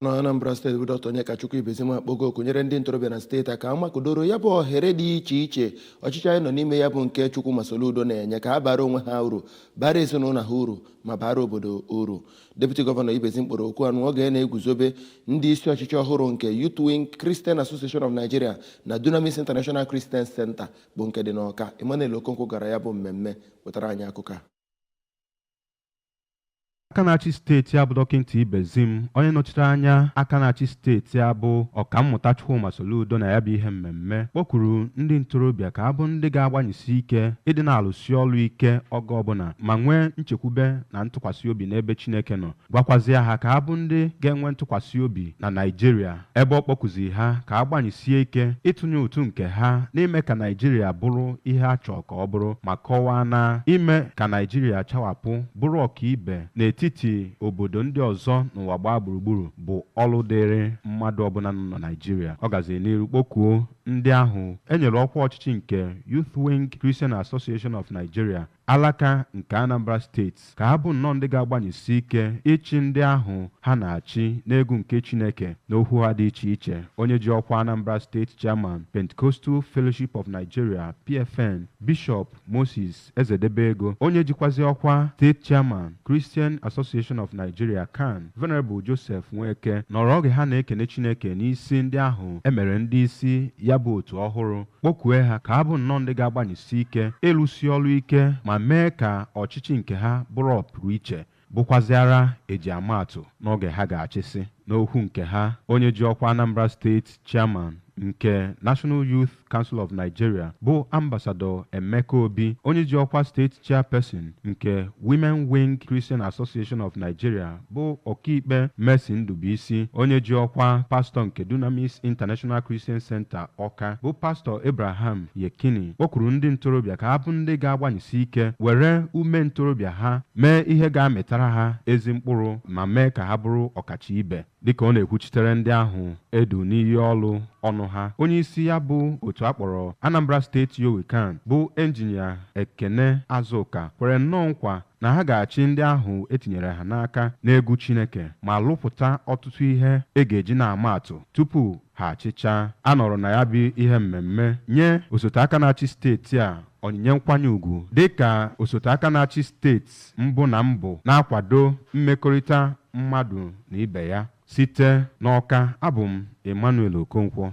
na Anambra steeti bụ Dr. Onyekachukwu Ibezim akpọgo oku nyere ndị ntorobịa na steeti a ka ha makụdoro ya bụ ohere dị iche iche ọchịchị anyị nọ n'ime ya bụ nke Chukwuma Soludo na-enye ka ha bara onwe ha uru bara ezinụlọ ha uru ma bara obodo uru Deputy Gọvanọ Ibezim kpọrọ oku a n'oge na-eguzobe ndị isi ọchịchị ọhụrụ nke Youth Wing Christian Association of Nigeria na Dunamis International Christian Center bụ nke dị n'Ọka Emmanuel Okonkwo gara ya bụ mmemme wetara anyị akụkọ a aka na-achị steeti a bụ dọkịnta Ibezim onye nọchiri anya aka na-achị steeti a bụ ọkammụta Chukwuma Soludo na ya bụ ihe mmemme kpọkuru ndị ntorobịa ka ha bụ ndị ga-agbanyesi ike ịdị na-alụsi ọlụ ike oge ọbụna ma nwee nchekwube na ntụkwasị obi n'ebe Chineke nọ gwakwazịa ha ka ha bụ ndị ga-enwe ntụkwasị obi na Naijiria ebe ọ kpọkuzi ha ka ha gbanyesie ike ịtụnye ụtụ nke ha n'ime ka Naịjirịa bụrụ ihe a chọọ ka ọ bụrụ ma kọwaa na ime ka Naịjirịa chawapụ bụrụ ọkaibe n'etiti obodo ndị ọzọ n'ụwa gbaa gburugburu bụ ọlụ dịrị mmadụ ọbụna nọ na Naịjirịa. Ọ gaziri n'iru kpọkuo ndị ahụ e nyere ọkwa ọchịchị nke Youth Wing Christian Association of Nigeria, Alaka nke Anambra Steeti ka ha bụ nnọọ ndị ga-agbanyesi ike ịchị ndị ahụ ha na-achị n'egwu nke Chineke. N'okwu ha dị iche iche, onye ji ọkwa Anambra State Chairman, Pentecostal Fellowship of Nigeria, PFN, Bishop Moses Ezedebego, onye jikwazi ọkwa State Chairman, Christian Association of Nigeria, CAN, Venerable Joseph Nweke, nọrọ oge ha na-ekene Chineke n'isi ndị ahụ e mere ndị isi ya bụ otu ọhụrụ. kpọkue ha ka ha bụ nnọọ ndị ga-agbanyesi ike ịlụsi ọrụ ike ma mee ka ọchịchị nke ha bụrụ ọpụrụiche, bụkwazịara eji ama atụ n'oge ha ga-achịsị. N'okwu nke ha, onye ji ọkwa Anambra State Chairman nke National Youth Council of Nigeria bụ Ambassador Emeka Obi, onye ji ọkwa State Chairperson nke Women Wing Christian Association of Nigeria bụ Ọkaikpe Mercy Ndubuisi, onye ji ọkwa Pastọ nke Dunamis International Christian Center Ọka bụ Pastọ Abraham Yekini kpọkuru ndị ntorobịa ka ha bụ ndị ga-agbanyesi ike were ume ntorobịa ha mee ihe ga-amịtara ha ezi mkpụrụ ma mee ka ha bụrụ ọkacha ibe. Dịka ọ na-ekwuchitere ndị ahụ e du n'iyi ọlụ ọnụ ha, onyeisi ya bụ otu a kpọrọ Anambra State YOWICAN bụ Engineer Ekene Azuka kwere nnọọ nkwa na ha ga-achị ndị ahụ e tinyere ha n'aka n'egwu Chineke ma lụpụta ọtụtụ ihe e ga-eji na-ama atụ tupu ha achịchaa. A nọrọ na ya bụ ihe mmemme nye osote aka na-achị steeti a onyinye nkwanye ugwu dịka osote aka na-achị steeti mbụ na mbụ na-akwado mmekọrịta mmadụ na ibe ya. Site n'Ọka, abụ m Emmanuel Okonkwo.